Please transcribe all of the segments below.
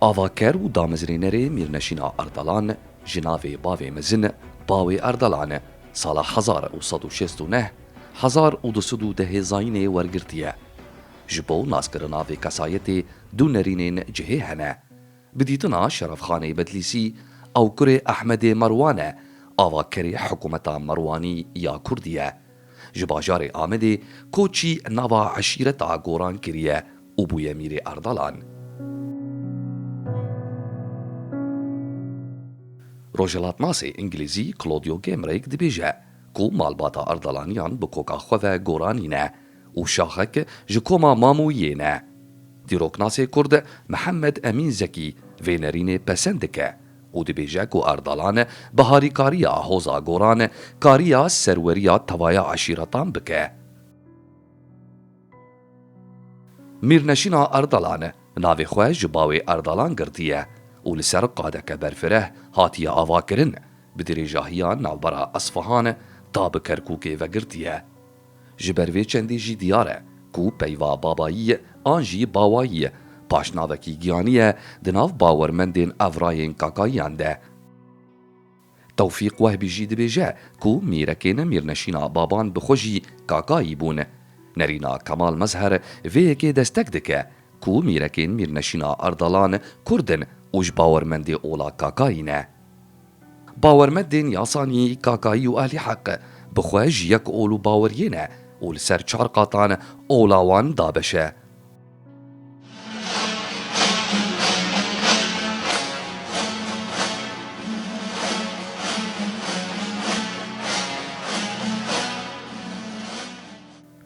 Avaker û damezrênerê Mîrneşîna Erdalan ji navê bavê mezin Bawê Erdalan sala hezar û sed û şêst û neh hezar û du sed û dehê zayînê wergirtiye. Ji bo naskirina vê kesayetê du nerînên cihê hene. Bi dîtina Şerefxanê Bedlîsî, ew kurê Ehmedê Merwan e, avakerê hikûmeta Merwanî ya Kurdî ye. Ji bajarê Amedê koçî nava eşîreta Goran kiriye û bûye Mîrê Erdalan. Rojhilatnasê Îngilîzî Claudio Gamerake dibêje ku malbata Erdalaniyan bi koka xwe ve Goranî ne. û şaxek ji koma Mamûyiyê ne. Dîroknasê Kurd Mihemed Emîn Zekî vê nerînê pesend dike û dibêje ku Erdalan bi harîkariya Hoza Goran kariya serweriya tevaya eşîretan bike. Mîrneşîna Erdalan navê xwe ji bawê Erdalan girtiye û li ser qadeke berfireh hatiye avakirin, bi dirêjahiya navbera Esfahan ta bi Kerkûkê vegirtiye. Ji ber vê çendî jî diyar e ku peyva babayî an jî bawayî paşnavekî giyanî ye di nav bawermendên evrayên kakayiyan de. Tewfîq Wehbî jî dibêje ku mîrekên mîrneşîna baban bi xwe jî kakayî bûn. Nerîna Kemal Mezher vê yekê destek dike ku mîrekên mîrneşîna Erdalan Kurd in û ji bawermendê ola kakayî ne. Bawermedên Yasanî, Kakayî û Ehlî Heq bi xwe ji yek ol û baweriyê ne û li ser çar qatan ola wan dabeş e.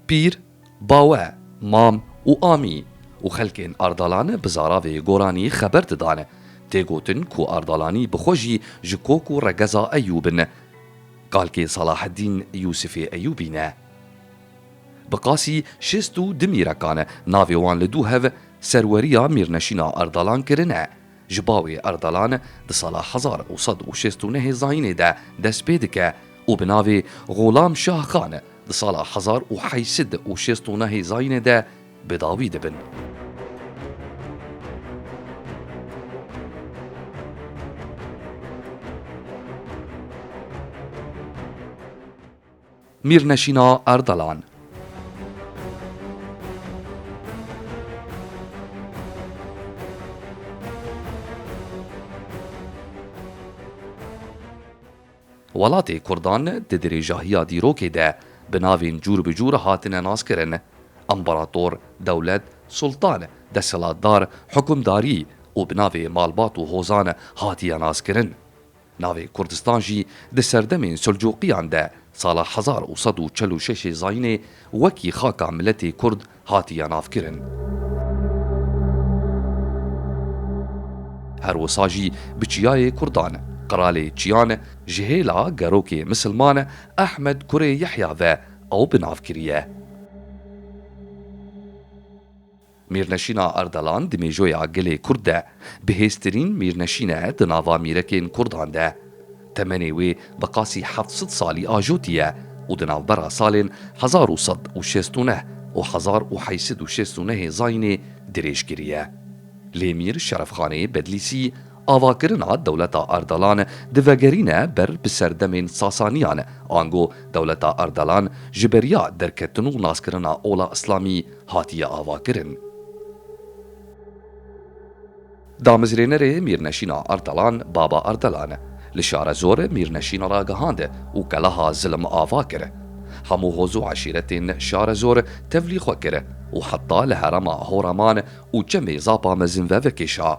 Pîr, Bawe, mam û amî û xelkên Ardalane bi zaravê Goranî xeber didane. Tê gotin ku Ardalanî bi xwe jî ji kok û regeza Eyûbin e. Kalkê Salaheddîn Yûsifê Eyûbî ne. Bi qasî şêst û du mîrekan e, navê wan li dû hev serweriya Mîrneşîna Ardalan kirine. Ji bo wê Erdalan di sala hezar û sed û şêst û nehê zayînê de dest pê dike û bi navê Xulam Şah Xan di sala hezar û heyş sed û şêst û nehê zayînê de bi dawî dibin. Mîrneşîna Erdalan. Welatê Kurdan di dirêjahiya dîrokê de bi navên cûr bi cûr hatine naskirin, Împarator, Dewlet, Sultan, Desthilatdar, Hukimdarî û bi navê malbat û hozan hatiye naskirin. Navê Kurdistan jî di serdemên Selcuqiyan de sala hezar û sed û çel û şeşê zayînê wekî xaka miletê Kurd hatiye navkirin. Her wisa jî bi çiyayê Kurdan, Qralê Çiyan, ji hêla gerokê misilman Ehmed kurê Yehya ve ew bi nav kiriye. Mîrneşîna Ardalan di mêjoya gelê Kurd de bihêztirîn mîrneşîn e di nava mîrekên Kurdan de. Temenê wê bi qasî heft sed salî ajotî ye û di navbera salên hezar û sed û şêst û neh û hezar û heyt sed û şêst û nehê Zayînê dirêj kiriye. Lê Mîr Şerefxanê Bedlîsî avakirina dewleta Ardalan di vegerîne ber bi serdemên Sasaniyan ango dewleta Ardalan ji beriya derketin û naskirina ola îslamî hatiye avakirin. Damezrênerê Mîrneşîna Ardalan Baba Ardalan li Şarezor Mîrneşîn ragihand û qelaha Zilim ava kir. Hemû hoz û eşîretên Şarezor tevlî xwe kir û heta li herema Horaman û çemê Zapa mezin ve vekêşa.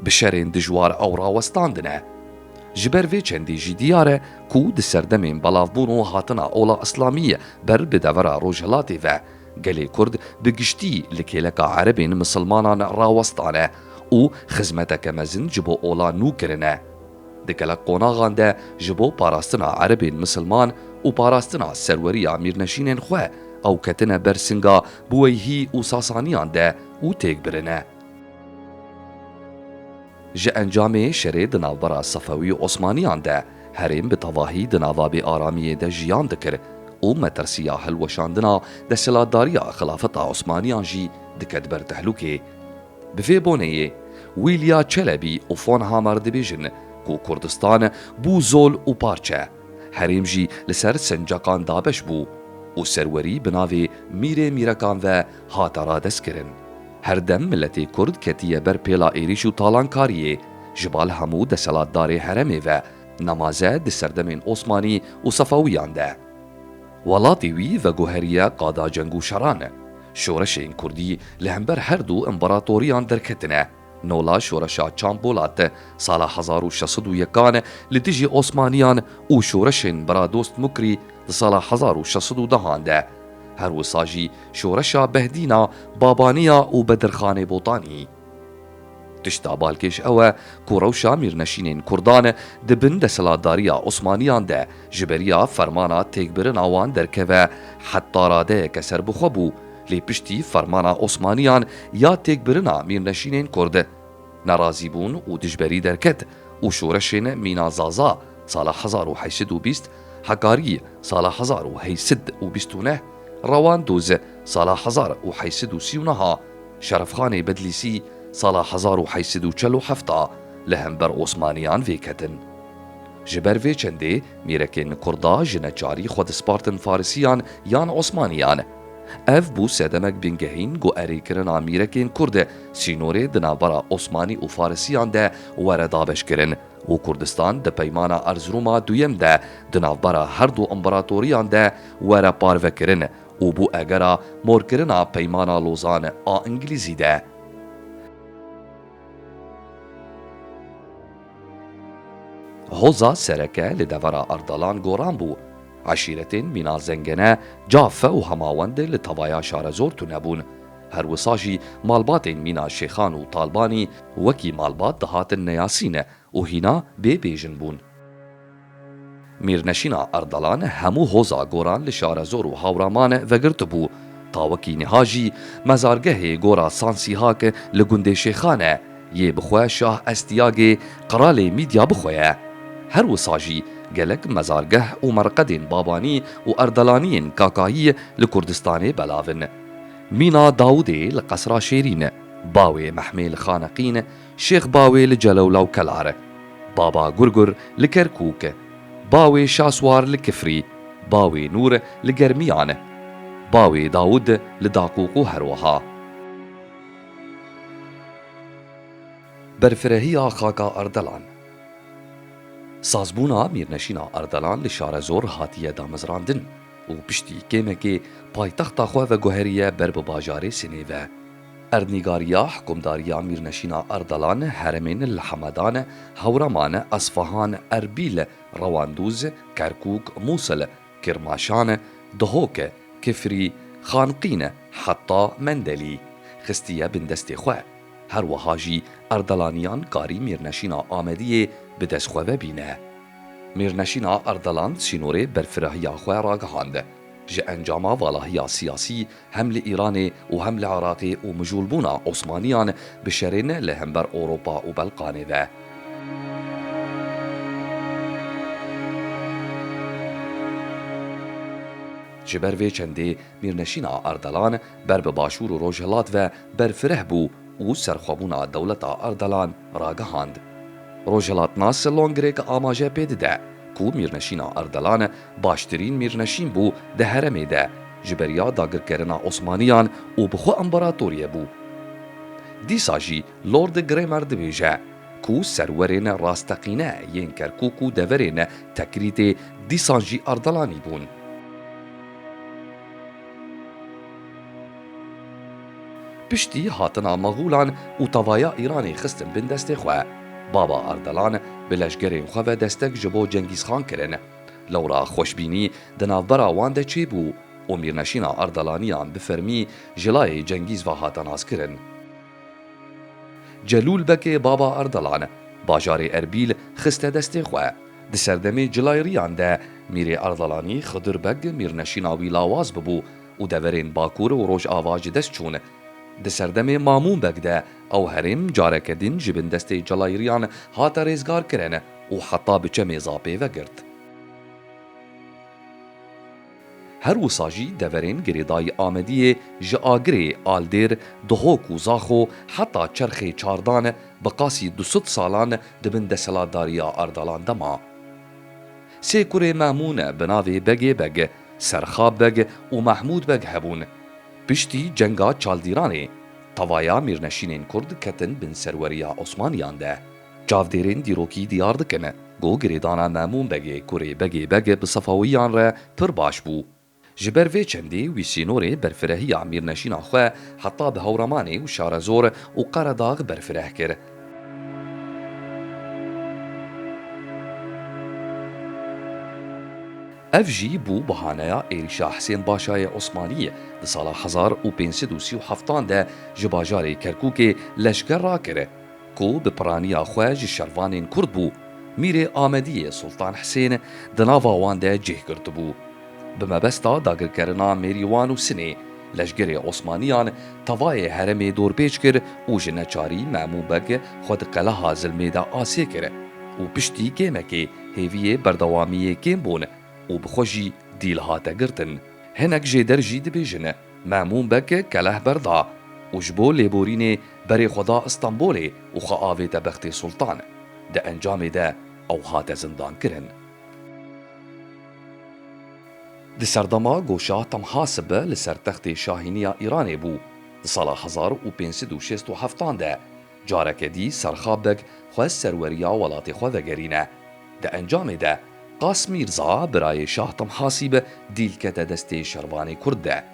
Bi şerên dijwar ew rawestandine. Ji ber vê çendî jî diyar e ku di serdemên belavbûn û hatina ola îslamiyê ber bi devera Rojhilatê ve, gelê Kurd bi giştî li kêleka erebên misilmanan rawestane û xizmeteke mezin ji bo ola nû kirine. Di gelek qonaxan de ji bo parastina erebên misilman û parastina serweriya mîrneşînên xwe ew ketine ber singa Buweyhî û Sasaniyan de û têk birine. Ji encamê şerê di navbera Sefewî û Osmaniyan de herêm bi tevahî di nava bêaramiyê de jiyan dikir û metirsiya hilweşandina desthilatdariya Xilafeta Osmaniyan jî diket ber tehlûkê. Bi vê boneyê Wîlya Çelebî û Fon Hamar dibêjin ku Kurdistan bû zol û parçe, herêm jî li ser sencakan dabeş bû û serwerî bi navê Mîrê Mîrekan ve hate radestkirin. Her dem miletê Kurd ketiye ber pêla êrîş û talankariyê ji bal hemû deselatdarê heremê ve, nemaze di serdemên Osmanî û Sefawîyan de. Welatê wî veguheriye qada ceng û şeran. Şoreşên Kurdî li hember her du împeratoriyan derketine. Nola Şoreşa Çand Bolat e. Sala hezar û şeş sed û yekan li dijî Osmaniyan û şoreşên Biradost Mukrî di sala hezar û şeş sed û dehan de. Her wisa jî şoreşa Behdîna, Babaniya û Bedirxanê Botanî. Tişta balkêş ew e ku rewşa mîrneşînên Kurdan di bin desthilatdariya Osmaniyan de, Ji beriya fermana têkbirina wan derkeve heta radeyeke serbixwe bû, lê piştî fermana Osmaniyan ya têkbirina mîrneşînên Kurd, nerazîbûn û dijberî derket û şoreşên mîna Zaza, sala hezar û heşt sed û bîst, Hekarî, sala hezar û heşt sed û bîst û neh, Rewandûz, sala hezar û heşt sed û sî û neh a, Şerefxanê Bedlîsî, sala hezar û heşt sed û çel û heft a, li hember Osmaniyan vêketin. Ji ber vê çendê mîrekên kurda ji neçarî xwe dispartin farisiyan yan osmaniyan. Ev bû sedemek bingehîn ku erê kirina mîrekên kurd sînorê di navbera osmanî û farisiyan de were dabeşkirin û Kurdistan di peymana Erzirûma duyem de di navbera her du împeratoriyan de were parvekirin û bû egera morkirina peymana Lozan a Îngilîzî de. Hoza sereke li devera Ardalan goran bû. Eşîretên mîna zengene, cafe û hemawende li tavaya şarezor tune bûn. Her wisa jî malbatên mîna şêxan û talbanî wekî malbat dihatin neyasîne û hîna bê bêjin bûn. Mîrnişîna Erdalan hemû hoza goran li Şarezor û Hawraman vegirtibû. Tawikî niha jî mezargehê gora Sansîhak li gundê Şêxan e, yê bi xwe Şah Estiyagê qralê Mîdya bi xwe ye. Her wisa jî gelek mezargeh û merqedên Babanî û Erdalaniyên Kakayî li Kurdistanê belav in. Mîna Dawûdê li Qesra Şêrîn, bawê Mehmêl Xaneqîn, Şêx Bawê li Celewla û Kelar e. Baba Gurgur li Kerkûk e. Bawê Şaswar li Kifrî, bawê Nûr li Germiyan e. Bawê Dawûd li Daqûqû herwiha. Berfirehiya xaka Ardelan Sazbûna Mîrneşîna Ardelan li Şarezor hatiye damezrandin û piştî kêmekê paytexta xwe veguheriye ber bi bajarê Sinê ve. Erdnîgariya Hikumdariya Mîrneşîna Erdalan heremên li Hemadan, Hewraman, Esfahan, Erbîl, Rewandûz, Kerkûk, Mûsil, Kirmaşan, Dihok, Kifrî, Xanqîn heta Mendelî xistiye bin destê xwe. Her wiha jî Erdalaniyan karî Mîrneşîna Amediyê bi dest xwe ve bîne. Mîrneşîna Erdalan sînorê berfirahiya xwe ragihand. Ji encama valahiya siyasî hem li Îranê û hem li Iraqê û mijûlbûna Osmaniyan bi şerê ne li hember Ewropa û Belqanê ve, ji ber vê çendê Mîrneşîna Ardalan ber bi Başûr û Rojhilat ve berfireh bû û serxwebûna dewleta Ardalan ragihand. Rojhilatnas longirêk amaje pê dide ku Mîrneşîna Ardalan Baştirîn mîrneşîn bû di heremê de ji beriya dagirkerina Osmaniyan û bi xwe împeratoriye bû. Dîsa jî Lord Gramer dibêje ku serwerên rasteqîne yên Kerkûk û deverên Tekrîtê dîsan jî Ardalanî bûn. Piştî hatina Maxûlan û tavaya Îranê xistin bin destê xwe, baba Ardalan bi leşgerên xwe ve destek ji bo Cengîzxan kirin. Lewra xweşbînî di navbera wan de çêbû û mîrneşîna Erdalaniyan bi fermî ji layê Cengîz ve hate naskirin. Celûl Bekê baba Erdalan bajarê Erbîl xiste destê xwe. Di serdemê cilayrîyan de Mîrê Erdalanî Xidir Beg mîrneşîna wî lawaz bibû û deverên Bakur û Rojava ji dest çûn. Di serdemê Mamûn Beg de ew herêm careke din ji bin destê cilayrîyan hate rêzgarkirin. û heta bi çemê zapê vegirt. Her wisa jî deverên girêdayî Amediyê ji Agirê, Aldêr, Duhok û Zaxo heta çerxê Çardan bi qasî du sed salan di bin deselatdariya Ardalan de ma. Sê kurê Memûn bi navê Begê Beg, Serxab Beg û Mehmûd Beg hebûn. Piştî cenga Çaldîranê, tevaya mîrneşînên Kurd ketin bin serweriya Osmaniyan de. Çavdêrên dîrokî diyar dikin ku girêdana Memûn Begê kurê Begê Beg bi Sefawiyan re pir baş bû. Ji ber vê çendê wî sînorê berfirehiya mîrneşîna xwe heta bi Hewramanê û Şarezor û Qeredax berfireh kir. Ev jî bû bahaneya êrîşa Hisên Başayê Osmanî di sala hezar û pênc sed û sî û heftan de ji bajarê Kerkûkê leşker rakir. ku bi piraniya xwe ji şervanên Kurd bû, Mîrê Amediyê Sultan Hisên di nava wan de cih girtibû. Bi mebesta dagirkerina Mêrîwan û Sinê, leşgerê Osmaniyan tevayê heremê dorpêç kir û ji neçarî Memû Beg xwe di qeleha Zilmê de asê kir û piştî kêmekê hêviyê berdewamiyê kêm bûn û bi xwe jî dîl hate girtin. Hinek jêder jî dibêjin. Memûn Beg keleh berda û ji bo lêborînê berê xwe da Îstanbûlê û xwe avête Bextê Sultan. Di encamê de ew hate zindankirin. Di serdema ku Şah Temhasib li ser textê şahîniya Îranê bû di sala hezar û pênc sed û şêst û heft an de Careke dî Serxab Beg xwest serweriya welatê xwe vegerîne. Di encamê de Qas Mîrza, birayê Şah Timhasî be dîl kete destê şervanê Kurd de.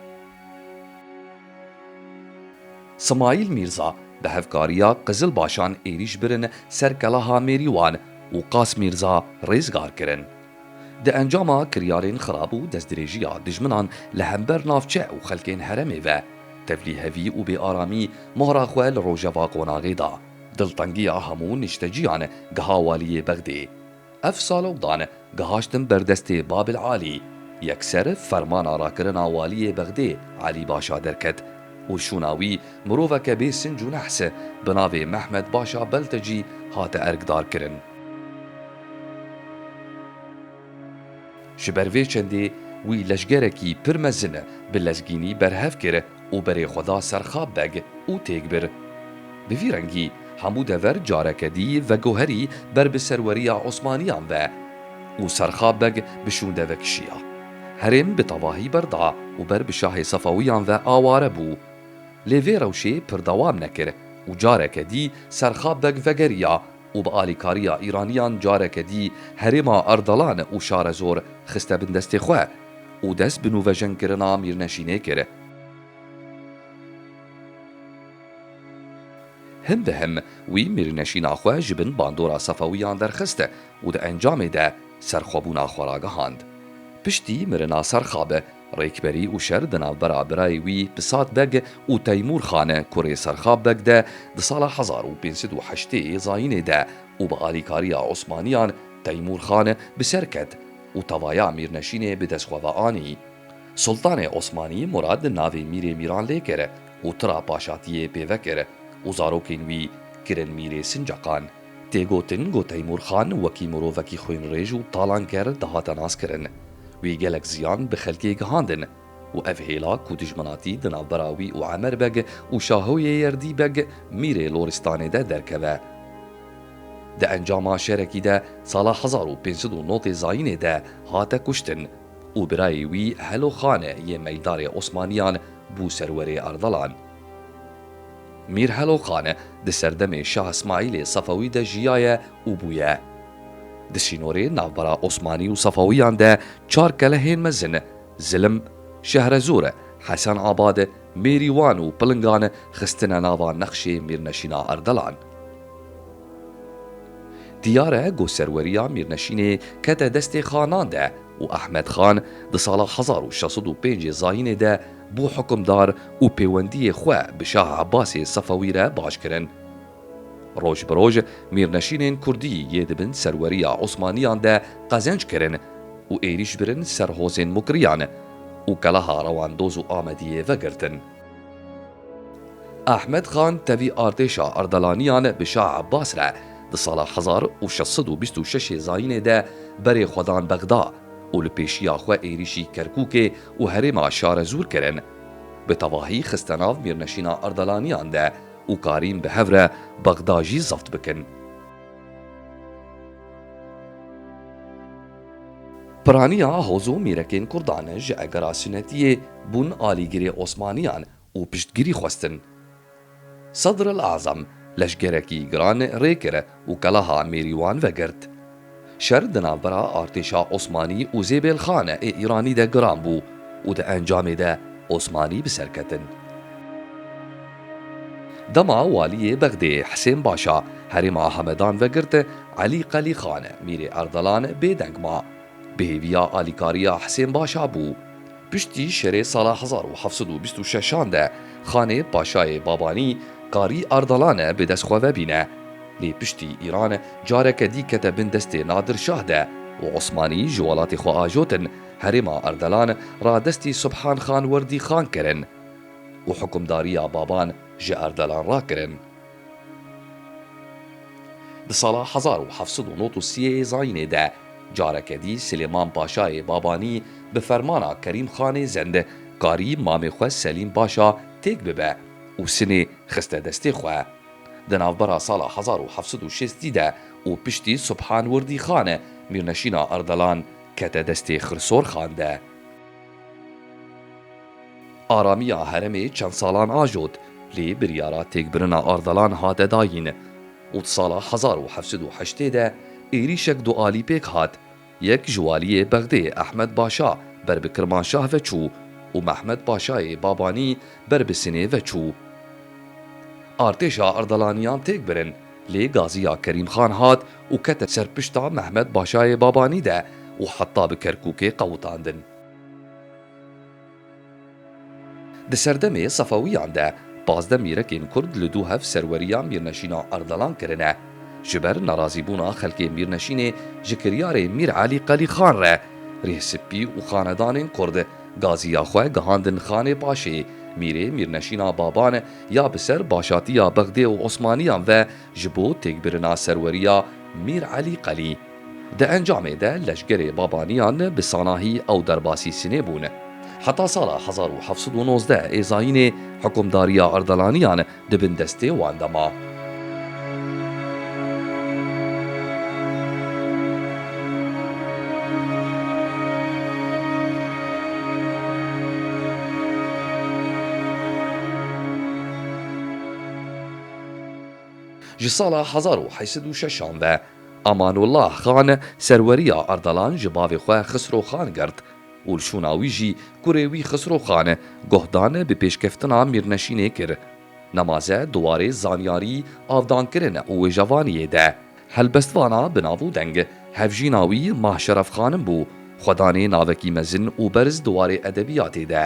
Simayîl Mîrza bi hevkariya Qizilbaşan êrîş birin ser Kelaha Mêrîwan û Qas Mîrza rêzgar kirin. Di encama kiryarên xirab û destdirêjiya dijminan li hember navçe û xelkên heremê ve, tevlî hevî û bêaramî mohra xwe li rojeva qonaxê da. Diltengiya hemû nişteciyan giha waliyê Bexdê. Ev salokdan gihaştin ber destê Babil Alî. Yekser fermana rakirina waliyê Bexdê Alî Başa derket û şûna wî miroveke bê sinc û nehs bi navê Mehmed Başa Beltecî hate erkdarkirin. Ji ber vê çendê wî leşgerekî pir mezin bi lezgînî berhev kir û berê xwe da ser Xab Beg û têk bir. Bi vî rengî hemû dever careke dî vegoherî ber bi serweriya Osmaniyan ve û ser Xab Beg bi şûnde vekişiya. Herêm bi tevahî berda û ber bi şahê Sefewiyan ve aware bû. Lê vê rewşê pir dewam nekir û careke dî ser Xab Beg vegeriya û bi alîkariya Îraniyan careke dî herêma Erdalan û Şarezor xiste bin destê xwe û dest bi nûvejenkirina Mîrneşînê kir. Him bi him wî Mîrneşîna xwe ji bin bandora Sefewiyan derxist û di encamê de serxwebûna xwe ragihand. Piştî mirina Serxab, Rêkberî û şer di navbera birayê wî Pisat Beg û Teymûr Xan e kurê Serxab Beg de di sala hezar û pênc sed û heştê yê zayînê de û bi alîkariya Osmaniyan Teymûr Xan bi ser ket û tavaya mîrneşînê bi dest xwe ve anî. Sultanê Osmanî Murad navê mîrê mîran lê kir û tira paşatiyê pê vekir û zarokên wî kirin mîrê Sincaqan. Tê gotin ku Teymûr Xan wekî mirovekî xwînrêj û talanker dihate naskirin. Wî gelek ziyan bi xelkê gihandin û ev hêla ku dijminatî di navbera wî û Emer Beg û Şahoyê Yerdî Beg Mîrê Loristanê de derkeve. Di encama şerekî de sala hezar û pênc sed û nod ê zayînê de hate kuştin û birayê wî Helo Xan yê Meydarê Osmaniyan bû serwerê Ardalan. Mîr Helokan di serdemê Şah Îsmaîlê Sefewî de jiyaye û bûye Di sînorê navbera Osmanî û Sefewiyan de çar kelehên mezin, Zilim, Şehrezor, Hesen Abad, Mêrîwan û Pilingan xistine nava nexşê Mîrneşîna Erdelan. Diyar e ku serweriya Mîrneşînê kete destê Xanan de û Ehmed Xan di sala hezar û şeş sed û pêncê Zayînê de Bû hukimdar û pêwendiyê xwe bi Şah Ebasê Sefewî re baş kirin. Roj bi roj mîrneşînên kurdî yê di bin serweriya Osmaniyan de qezenc kirin û êrîş birin ser hozên Mukriyan û keleha Rewandoz û Amediyê vegirtin. Ehmed Xan tevî artêşa Erdalaniyan bi Şah Ebas re di sala hezar û şeş sed û bîst û şeş ê zayînê de berê xwe dan Bexda. û li pêşiya xwe êrîşî Kerkûkê û herêma Şarezûr kirin. Bi tevahî xiste nav Mîrneşîna Erdalaniyan de û karîn bi hev re Bexda jî zebt bikin. Piraniya Hozo Mîrekên Kurdan ji egera Sunetiyê bûn alîgirê Osmaniyan û piştgirî xwestin. Sedril Azam leşgerekî giran rê kir û kelaha Mêrîwan vegirt. Şer di navbera artêşa Osmanî û Zêbêlxan ê Îranî de giran bû û di encamê de Osmanî bi ser ketin. Dema Waliyê Bexdê Hisên Başa herêma Hamedan vegirt, Elî Qelîxan, Mîrê Erdelan bêdeng ma. Bi hêviya alîkariya Hisên Başa bû. Piştî şerê sala hezar û heft sed û bîst û şeş an de Xanê Paşayê Babanî Karî Ardalane bi dest xwe vebîne. Lê piştî Îran careke dî kete bin destê Nadir Şah de û Osmanî ji welatê xwe ajotin herêma Ardalan ra destê Subhan Xan Werdî Xan kirin û hukimdariya Baban ji Ardalan rakirin. Di sala hezar û heft sed û nod û sî yê zayînê de careke dî Silêman Paşayê Babanî bi fermana Kerîm Xanê Zend karî mamê xwe Selîm Paşa têk bibe û sinê xiste destê xwe. Di navbera sala hezar û heft sed û şêst de û piştî Subhan Wirdî Xan, mîrneşîna Ardalan kete destê Xirsor Xan de. Aramiya heremê çend salan ajot, lê biryara têkbirina Ardalan hate dayîn û di sala hezar û heft sed û heştê de êrîşek du alî pêk hat. Yek ji waliyê Bexdê Ehmed Başa ber bi Kirmanşah ve çû û Mehmed Başayê Babanî ber bi Sinê ve çû artêşa Ardalaniyan têk birin. Lê gaziya Kerîm Xan hat û kete ser pişta Mehmet Başayê Babanî de û heta bi Kerkûkê qewitandin. Di serdemê Sefewîyan de pazdeh mîrekên Kurd li du hev serweriya Mîrneşîna Ardalan kirine. Ji ber nerazîbûna xelkê Mîrneşînê ji kiryarê Mîr Elî Qelî Xan re, Rih Sipî û xanedanên Kurd gaziya xwe gihandin Xanê Paşê, mîrê Mîrneşîna Baban, ya bi ser başatiya Bexdê û Osmaniyan ve ji bo têkbirina serweriya Mîr Elî Qelî. Di encamê de leşgerê Babaniyan bi sanahî ew derbasî Sinê bûn. Heta sala hezar û heft sed û nozdeh ê zayînê hikûmdariya Erdalaniyan di bin destê wan de ma. Ji sala hezar û heşt sed û şeşan ve Amanullah Xan serweriya Ardalan ji bavê xwe Xisro Xan girt û li şûna wî jî kurê wî Xisro Xan guhdan bi pêşkeftina mîrneşînê kir. Nemaze di warê zanyarî, avdankirin û wêjevaniyê de helbestvana bi nav û deng. Hevjîna wî Mah Şeref Xanim bû. Xwedanê navekî mezin û berz di warê edebiyatê de.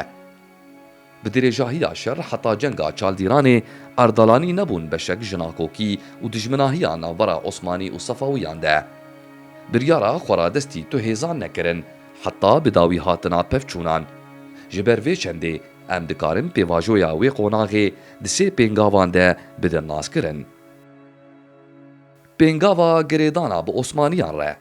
Bi dirêjahiya şer heta cenga Çaldîranê, Erdalanî nebûn beşek ji nakokî û dijminahiya navbera Osmanî û Sefawiyan de. Biryara xwe ra destî tu hêzan nekirin heta bi dawî hatina pevçûnan. Ji ber vê çendê Em dikarin pêvajoya wê qonaxê di sê pêngavan de bidin naskirin. Pêngava girêdana bi Osmaniyan re.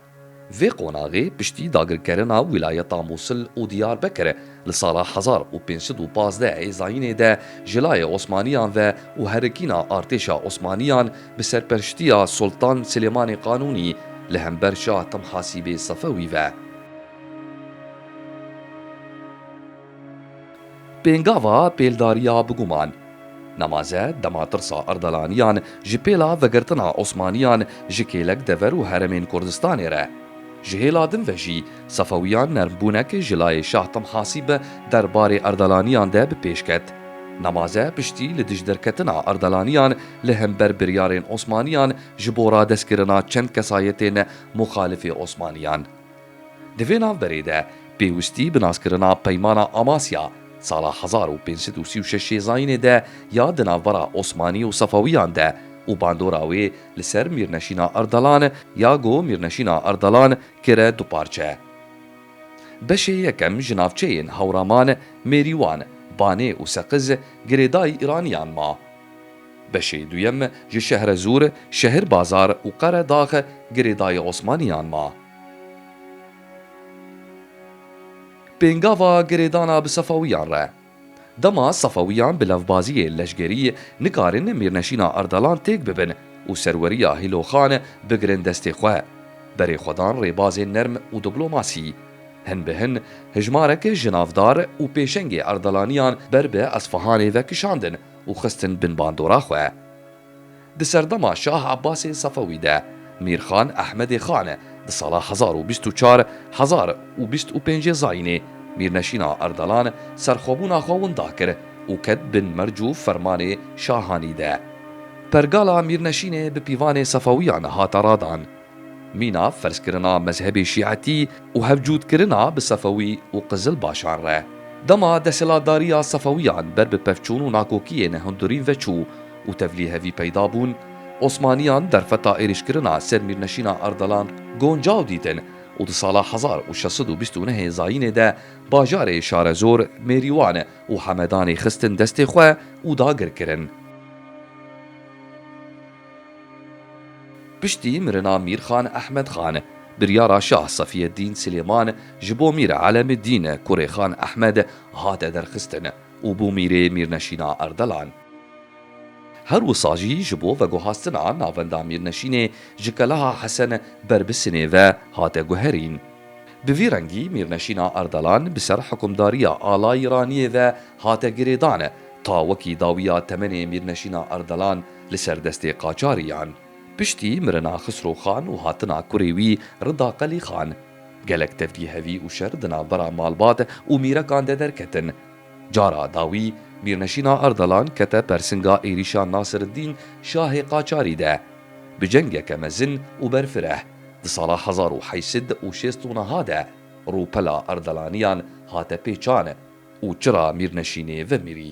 Vê qonaxê piştî dagirkerina wîlayeta Mûsil û Diyarbekir li sala hezar û pênc sed û pazdeh ê zayînê de ji layê Osmaniyan ve û herikîna artêşa Osmaniyan bi serperştiya Sultan Silêmanê Qanûnî li hember Şah Timhasîbê Sefewî ve Pêngava pêldariya biguman. Nemaze dema tirsa Erdalaniyan ji pêla vegirtina Osmaniyan ji kêlek dever û heremên Kurdistanê re. Ji hêla din ve jî Sefewiyan nermbûnek ji layê Şah Timhasî bi der barê Erdalaniyan de bi pêş ket. Nemaze piştî li dij derketina Erdalaniyan li hember biryarên Osmaniyan ji bo radestkirina çend kesayetên muxalifê Osmaniyan. Di vê navberê de pêwistî bi naskirina Peymana Amasya sala hezar û pênc sed û sî û şeş yê zayînê de ya di navbera Osmanî û Sefewîyan de û bandora wê li ser Mîrneşîna Ardalan ya go Mîrneşîna Ardalan kire du parçe. Beşê yekem ji navçeyên Hewraman, Mêrîwan, Banê û Seqiz girêdayî Îranîyan ma. Beşê duyem ji Şehrezûr, Şehirbazar û Qeredax girêdayî Osmanîyan ma. Pêngava girêdana bi Sefewiyan re. Dema Sefewiyan bi levbaziyê leşgerî nikarin mîrneşîna Erdelan têk bibin û serweriya Hîloxan bigirin destê xwe, berê xwe dan rêbazên nerm û diplomasî. Hin bi hin hijmarek ji navdar û pêşengê Erdelaniyan ber bi Esfahanê ve kişandin û xistin bin bandora xwe. Di serdema Şah Ebasê Sefewî de Mîrxan Ehmedê Xan di sala hezar û bîst û çar hezar û bîst û pêncê zayînê Mîrneşîna Erdelan serxwebûna xwe winda kir û ket bin merc û fermanê Şahanî de. Pergala Mîrneşînê bi pîvanê Sefewiyan hate radan. Mîna ferzkirina mezhebê şîetî û hevcûtkirina bi Sefewî û Qizilbaşan re. Dema desthilatdariya Sefewiyan ber bi pevçûn û nakokiyên hindurî veçû û tevlî hevî peyda bûn, Osmaniyan derfeta êrîşkirina ser Mîrneşîna Ardalan goncaw dîtin û di sala hezar û şeş sed û bîst û nehê zayînê de bajarê Şarezor, Mêrîwan û Hemedanê xistin destê xwe û dagirkirin. Piştî mirina Mîrxan Ehmedxan, biryara Şah Safîeddîn Silêman ji bo Mîr Elemîddîn Kurêxan Ehmed hate derxistin û bû mîrê Mîrneşîna Erdelan. Her wisa jî ji bo veguhastina navenda Mîrneşînê ji Keleha Hesen Berbisinê ve hate guherîn. Bi vî rengî Mîrneşîna Erdelan bi ser hikûmdariya Ala Îraniyê ve hate girêdan ta wekî dawiya temenê Mîrneşîna Erdelan Li ser destê qaçariyan, piştî mirina Xisro Xan û hatina kurê wî Rida Qelî Xan, gelek tevgî hevî û şer di navbera malbat û mîrekan de derketin. Cara dawî Mîrneşîna Ardalan kete persinga êrîşa Nasireddîn Şahê Qaçarî de. Bi cengeke mezin û berfireh, di sala hezar û heşt sed û şêst û niha de rûpela Ardalaniyan hate pêçan û çira Mîrneşînê vemirî.